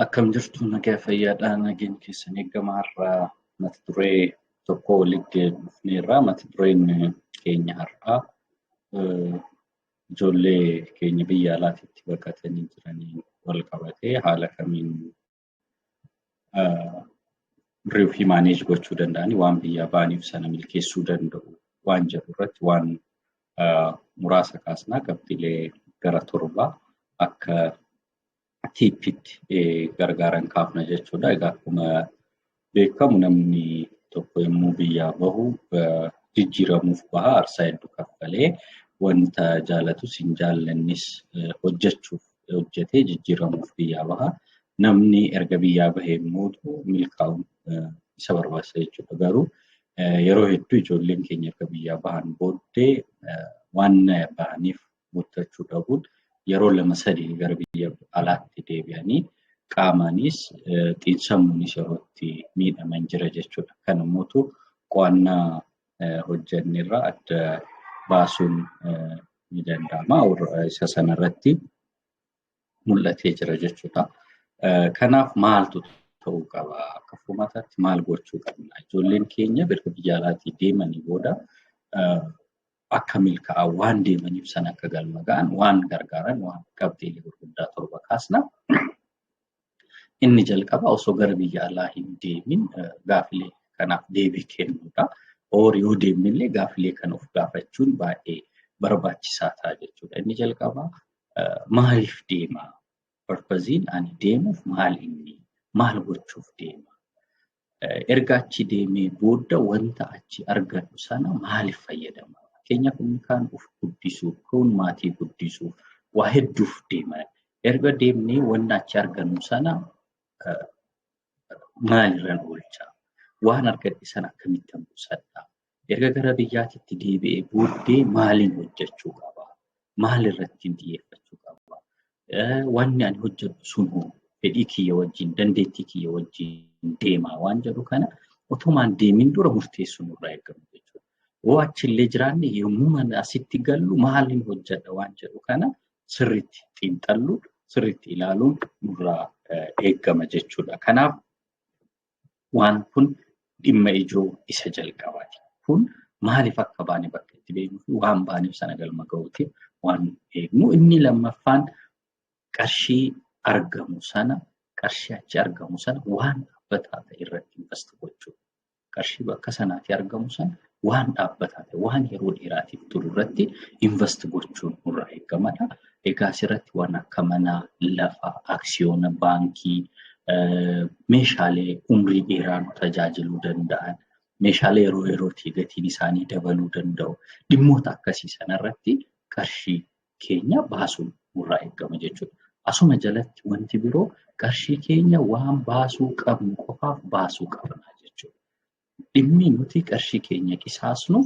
Akkam jirtu nagaa fayyaadha nageen keessan eegama har'aa mata duree tokko walitti dhufneerra mata dureen keenya har'aa ijoollee keenya biyya alaatitti baqatanii jiranii wal qabatee haala kamiin riiw fi maaneej gochuu danda'anii waan biyyaa ba'aniif sana milkeessuu danda'u waan jedhu irratti waan muraasa kaasnaa qabxiilee gara torbaa akka tiippitti gargaaran kaafna jechuudha. Egaa akkuma beekamu namni tokko yommuu biyyaa bahu jijjiiramuuf baha aarsaa hedduu kaffalee wanta jaalatus hin jaallannis hojjechuuf hojjetee jijjiiramuuf biyyaa baha. Namni erga biyyaa bahee immoo milkaa'uun isa barbaachisa jechuudha. Garuu yeroo hedduu ijoolleen keenya erga biyyaa bahan booddee waan bahaniif guuttachuu dhabuun yeroo lama sadii gara biyya alaatti deebi'anii qaamaanis xiinsammuunis yeroo itti miidhaman jira jechuudha. Kan immoo qo'annaa hojjennerra adda baasuun ni danda'ama. Isa sanarratti mul'atee jira jechuudha. Kanaaf maaltu ta'uu qaba? Akka furmaataatti maal gochuu qabna? Ijoolleen keenya erga biyya alaatii deemanii booda akka milkaa'an waan deemaniif san akka galma ga'an waan gargaaran waan qabxiilee gurguddaa torba kaasna. Inni jalqaba osoo gara biyya alaa hin deemin gaafilee kanaaf deebii kennuudha. Oor yoo deemnillee gaafilee kana of gaafachuun baay'ee barbaachisaa ta'a jechuudha. Inni jalqaba maaliif deema? Parpaziin ani deemuuf maal inni? Maal gochuuf deema? Erga achi deemee booda wanta achi argadhu sana maaliif fayyadama? Fakkeenyaaf inni kaan of guddisuuf, kun maatii guddisuuf, waa hedduuf deema. Erga deemnee wanta achi argannu sana maalirran oolcha? Waan argadhe sana akkamittan qusadha? Erga gara biyyaatitti deebi'ee booddee maaliin hojjechuu qaba? Maal irratti xiyyeeffachuu qaba? Wanni ani hojjedhu sun fedhii kiyya wajjin, dandeettii kiyya wajjin deemaa waan jedhu kana otumaan deemin dura murteessuun irraa eegamu jechuudha. Yoo achillee jiraanne yommuu asitti gallu maaliin hojjedha waan jedhu kana sirriitti xiinxalluun sirriitti ilaaluun nurraa eegama jechuudha. Kanaaf Waan kun dhimma ijoo isa jalqabaati. Kun maaliif akka baane bakka itti beeknuu fi waan baaneef sana galma ga'uutiif waan eegnu. Inni lammaffaan qarshii argamu sana qarshii achi argamu sana waan dhaabbataa ta'e irratti invest gochuu. Qarshii bakka sanaatii argamu sana waan dhaabbataa ta'e, waan yeroo dheeraatiif turu irratti invest gochuun nurraa eegamadha. Egaa asirratti waan akka manaa, lafa, aksiyoona, baankii, meeshaalee umrii dheeraa nu tajaajiluu danda'an, meeshaalee yeroo yerootii gatiin isaanii dabaluu danda'u, dhimmoota akkasii sanarratti qarshii keenya baasuun nurraa eegama jechuudha. Asuma jalatti wanti biroo qarshii keenya waan baasuu qabnu qofaaf baasuu qabna jechuudha. Dhimmi nuti qarshii keenya qisaasnu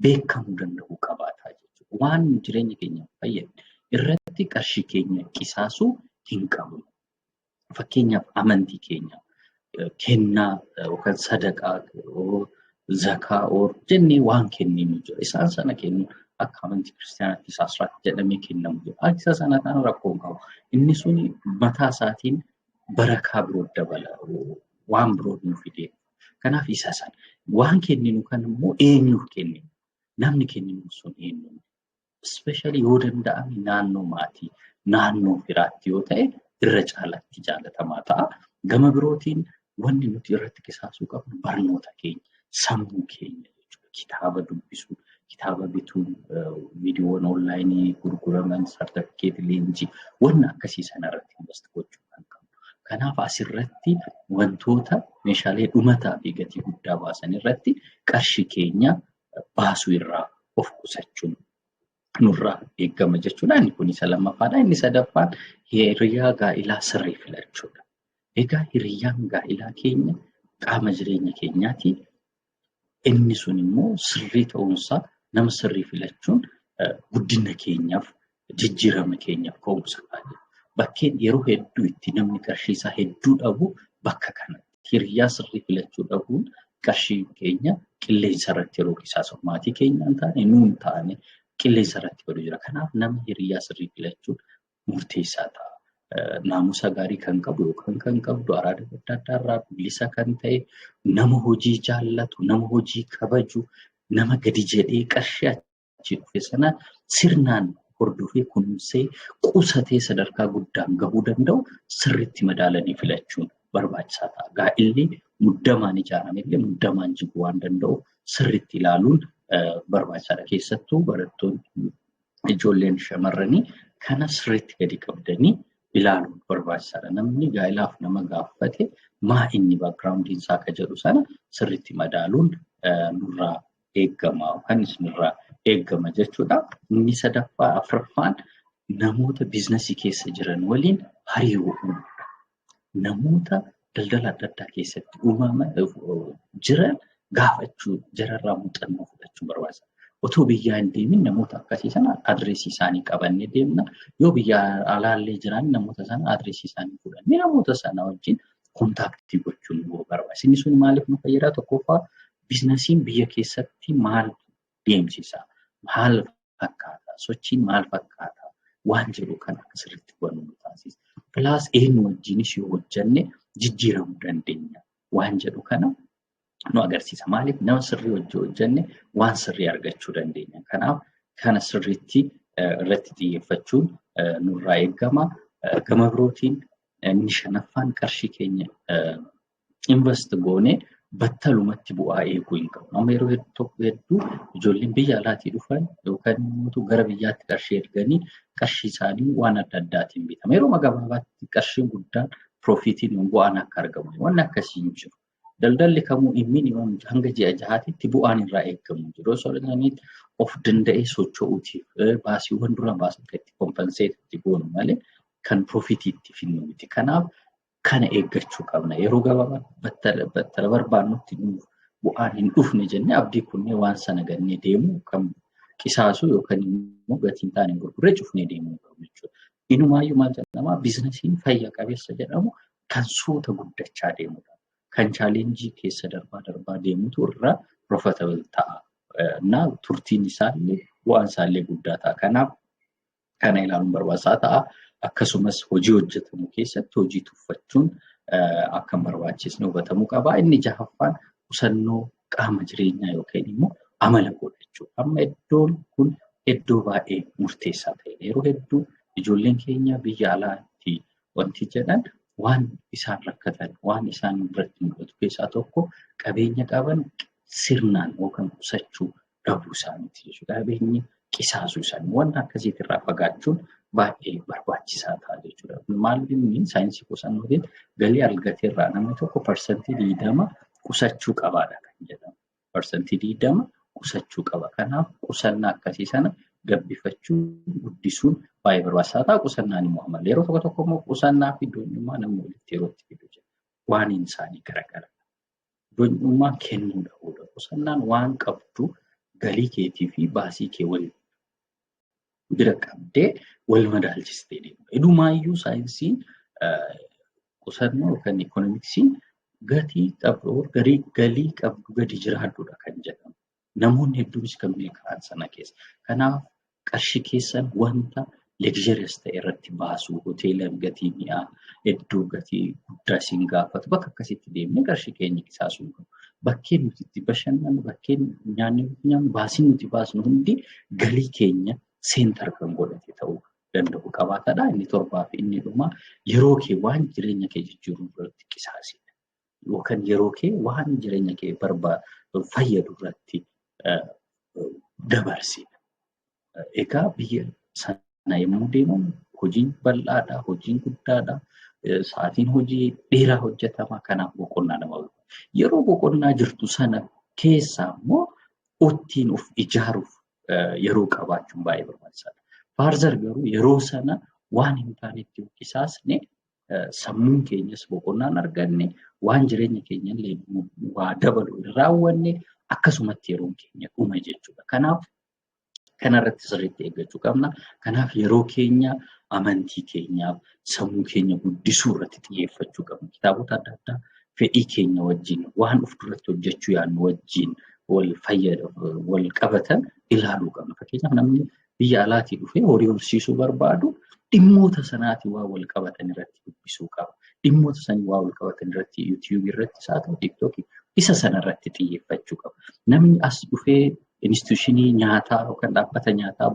beekamuu danda'uu qabaataa jechuudha. Waan jireenya keenya fayyadu irratti qarshii keenya qisaasuu hin qabnu. Fakkeenyaaf amantii keenya kennaa yookaan sadaqaa zakaa oor jennee waan kenninu jira. Isaan sana kennu akka amantii kiristaanaatti isaasraatti jedhamee kennamu jira. Akka isa sana taana rakkoo hin qabu. Inni suni mataa isaatiin barakaa biroo dabala. Waan biroo nu fidee Kanaaf isa sana waan kenninu kan immoo eenyuuf kenninu namni kenninu sun eenyu ispeeshaalii yoo danda'ame naannoo maatii naannoo firaatti yoo ta'e irra caalaatti jaalatamaa ta'a. Gama birootiin wanni nuti irratti qisaasuu qabnu barnoota keenya sammuu keenya jechuudha kitaaba dubbisuu kitaaba bituun viidiyoowwan onlaayinii gurguraman sartifikeetii leenjii wanna akkasii sana irratti invest gochuu kan qabu. Kanaaf asirratti wantoota meeshaalee dhumataa fi gatii guddaa baasan irratti qarshii keenya baasuu irraa of qusachuun nurraa eegama jechuudha. Inni kun isa lammaffaadha. Inni sadaffaan hiriyaa gaa'ilaa sirrii filachuudha. Egaa hiriyaan gaa'ilaa keenya qaama jireenya keenyaati. Inni sun immoo sirrii ta'uunsaa nama sirrii filachuun guddina keenyaaf jijjiirama keenyaaf ka'umsa baay'ee. Bakkeen yeroo hedduu itti namni qarshii isaa hedduu dhabu bakka kanatti. Hiriyaa sirrii filachuu dhabuun qarshii keenya qilleensa irratti yeroo qisaasamu maatii keenya hin taane nuun taane qilleensa irratti badu jira. Kanaaf nama hiriyaa sirrii filachuun murteessaa ta'a. Naamusa gaarii kan qabu yookaan kan qabdu araada adda addaa irraa bilisa kan ta'e nama hojii jaallatu, nama hojii kabaju, nama gadi jedhee qarshii achi dhufe sana sirnaan hordofee kunuunsee qusatee sadarkaa guddaan gahuu danda'u sirriitti madaalanii filachuun barbaachisaa ta'a. Gaa'illi muddamaan ijaarame illee muddamaan jigu waan danda'u sirriitti ilaaluun barbaachisaadha. Keessattuu barattoonni ijoolleen shamarranii kana sirriitti gadi qabdanii ilaaluun barbaachisaadha. Namni gaa'ilaaf nama gaafate maa inni baakgiraawundiin isaa akka jedhu sana sirriitti madaaluun nurraa eegama yookaan isinirraa eegama jechuudha. Inni sadaffaa afraffaan namoota biiznasii keessa jiran waliin hariiroo uumuudha. namoota daldala adda addaa keessatti uumama jiran gaafachuu jararraa muuxannoo fudhachuu barbaachisa. Otoo biyyaa hin deemin namoota akkasii sana adireesii isaanii qabannee deemna. Yoo biyya alaallee jiran namoota sana adireesii isaanii fudhannee namoota sana wajjin kontaaktii gochuun nu barbaachisa. Inni sun maaliif nu fayyada? Tokkoffaa biiznasiin biyya keessatti maal deemsisa. Maal fakkaata? Sochiin maal fakkaata? Waan jedhu kan akka sirriitti hubannu nu taasisa. Pilaas eenyu wajjinis yoo hojjenne jijjiiramuu dandeenya. Waan jedhu kana nu agarsiisa. Maaliif nama sirrii wajjin hojjenne waan sirrii argachuu dandeenya. Kanaaf kana sirriitti irratti xiyyeeffachuun nurraa eegama. Gama birootiin inni shanaffaan qarshii keenya invest goone battalumatti bu'aa eeguu hin qabnu. Amma yeroo hedduu tokko hedduu ijoolleen biyya alaatii dhufan yookaan immoo gara biyyaatti qarshii erganii qarshii isaanii waan adda addaatiin bitama. Yeroo gabaabaatti qarshiin guddaan piroofiitiin yoon bu'aan akka argamu wanni akkasii hin jiru. Daldalli kamuu minimum hanga ji'a jahaatitti bu'aan irraa eegamu hin jiru. Osoo isaanii of danda'ee socho'uutiif baasiiwwan dura baasan kan itti kompenseet itti goonu malee kan piroofiitii itti finnu miti. Kanaaf kana eeggachuu qabna. Yeroo gabaabaa battala battala barbaannutti nuuf bu'aan hin dhufne jennee abdii kunnee waan sana gannee deemuu kan qisaasuu yookaan immoo gatii hin taane gurgurree cufnee deemuu qabna jechuudha. Inumaayyuu maal jedhama biizinasiin fayya qabeessa jedhamu kan suuta guddachaa deemudha. Kan chaalenjii keessa darbaa darbaa deemutu irra profitable ta'a. Na turtiin isaallee bu'aan isaallee guddaa ta'a. Kanaaf kana ilaaluun barbaachisaa ta'a. Akkasumas hojii hojjetamu keessatti hojii tuffachuun akka hin barbaachisne hubatamuu qaba. Inni jahaffaan qusannoo qaama jireenyaa yookiin immoo amala godhachuu. Amma iddoon kun iddoo baay'ee murteessaa ta'e. Yeroo hedduu ijoolleen keenya biyya alaatti wanti jedhan waan isaan rakkatan, waan isaan biratti mul'atu keessaa tokko qabeenya qaban sirnaan yookaan qusachuu dhabuu isaaniiti jechuudha. Qabeenyi qisaasuu isaanii wanta akkasiiti irraa fagaachuun baay'ee barbaachisaa ta'a jechuudha. Maal inni saayinsii qusannootiin galii argate irraa namni tokko parsantii digdama qusachuu qabaadha kan jedhamu. Parsantii digdama qusachuu qaba. Kanaaf qusannaa akkasii sana gabbifachuu guddisuun baay'ee barbaachisaa ta'a. Qusannaan immoo amala yeroo tokko tokko immoo qusannaa fi doonummaa namni walitti yeroo itti fidu jira. Waan isaanii garagara. Doonyummaa kennuu dhabuudha. Qusannaan waan qabdu galii keetii fi baasii kee wal bira qabdee wal madaalchistee deemudha. Idumaayyuu saayinsiin qusannoo yookaan ikoonomiksiin gatii qabdu garii galii qabdu gadi jiraadduudha kan jedhamu. Namoonni hedduunis kan milkaa'an sana keessa. Kanaaf qarshii keessan wanta luxurious ta'e irratti baasuu hoteela gatii mi'aa hedduu gatii guddaa isin gaafatu bakka akkasitti deemnee qarshii keenya qisaasuu qabu. Bakkeen nuti itti bashannanu bakkeen nyaanni nuti nyaannu baasiin nuti baasnu hundi galii keenya seentar kan godhate ta'uu danda'u qabaatadha. Inni torbaa fi inni dhumaa yeroo kee waan jireenya kee jijjiiruu irratti qisaasidha. yookaan yeroo kee waan jireenya kee barbaadu fayyadu irratti dabarsi. Egaa biyya sana yommuu deeman hojiin bal'aadha, hojiin guddaadha. Sa'aatiin hojii dheeraa hojjetama kanaaf boqonnaa nama Yeroo boqonnaa jirtu sana keessaa immoo ittiin of ijaaruuf yeroo qabaachuun baay'ee barbaachisaadha. Faarzar garuu yeroo sana waan hin taanetti yoo qisaasne sammuun keenyas boqonnaa hin arganne waan jireenya keenya illee waa dabalu hin raawwanne akkasumatti yeroon keenya dhuma jechuudha. Kanaaf kanarratti sirriitti eeggachuu qabna. Kanaaf yeroo keenya amantii keenyaaf sammuu keenya guddisuu irratti xiyyeeffachuu qabna. Kitaabota adda addaa fedhii keenya wajjin waan of duratti hojjechuu yaadnu wajjin wal fayyada wal qabatan ilaaluu qabna. Fakkeenyaaf namni biyya alaatii dhufee horii horsiisuu barbaadu dhimmoota sanaatiin waan wal qabatan irratti dubbisuu qaba. Dhimmoota sanii waan wal qabatan irratti YouTube irratti isaa ta'u TikTok isa sana irratti xiyyeeffachuu qaba. Namni as dhufee instituushinii nyaataa yookaan dhaabbata nyaataa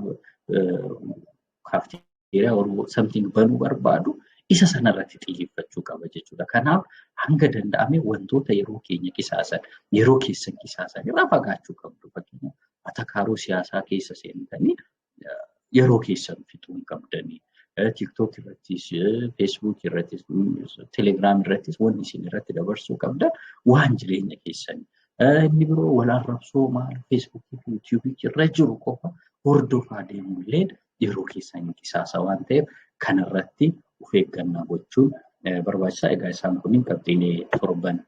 kaafteeriyaa or something banuu barbaadu isa sana irratti xiyyeeffachuu qaba jechuudha. Kanaaf hanga danda'ame wantoota yeroo keenya qisaasan yeroo keessan qisaasan irraa fagaachuu qabdu. Fakkeenyaaf atakaaroo siyaasaa keessa seentanii yeroo keessan fixuu hin qabdanii. TikTok irrattis, Facebook irrattis, Telegram irrattis wanni isin irratti dabarsuu qabdan waan jireenya keessanii. Inni biroo wal arrabsoo maal Facebook fi YouTube irra jiru qofa hordofaa deemuun illee yeroo keessan hin qisaasa waan ta'eef kanarratti of eeggannaa gochuun barbaachisaa. Egaa isaan kunniin qabxiilee torban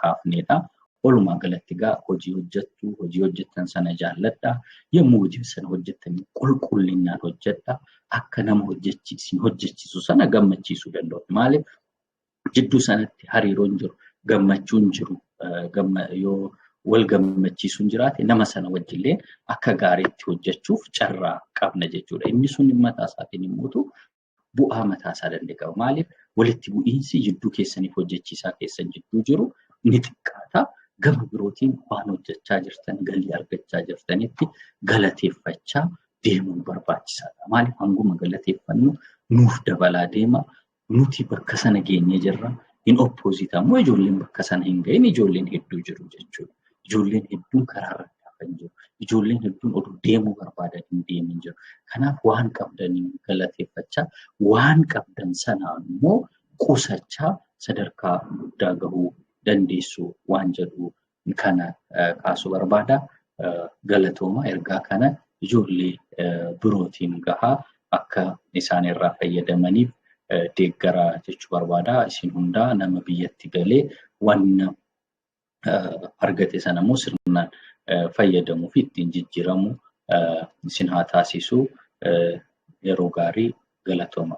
kaafneedha. Walumaa galatti egaa hojii hojjettu, hojii hojjettan sana jaalladha. Yommuu hojii sana hojjettan qulqullinaan hojjedha. Akka nama hojjechiisu sana gammachiisuu danda'u. Maaliif jidduu sanatti hariiroon jiru gammachuun jiru yoo wal gammachiisuun jiraate nama sana wajjillee akka gaariitti hojjechuuf carraa qabna jechuudha. Inni sun mataa isaatiin immoo bu'aa mataa isaa danda'e qaba. Maaliif walitti bu'iinsi jidduu keessaniif hojjechiisaa keessan jidduu jiru ni xiqqaata. Gama birootiin waan hojjechaa jirtan galii argachaa jirtanitti galateeffachaa deemuun barbaachisaadha. Maaliif hanguma galateeffannu nuuf dabalaa deema Nuti bakka sana geenyee jirra. Hin oppoozit ammoo ijoolleen bakka sana hin gahin ijoolleen hedduu jiru jechuudha. Ijoolleen hedduun karaa irra kan jiru. Ijoolleen hedduun oduu deemuu barbaadan hin deemin jiru. Kanaaf waan qabdaniin galateeffachaa waan qabdan sana immoo qusachaa sadarkaa guddaa gahuu dandeessu waan jedhu kana kaasuu barbaada. Galatooma ergaa kana ijoollee birootiin gahaa akka isaan irraa fayyadamaniif deeggaraa jechuu barbaada. Isin hundaa nama biyyatti galee wanna argate sana immoo sirnaan fayyadamuu fi ittiin jijjiiramu isin haa taasisu yeroo gaarii galatooma.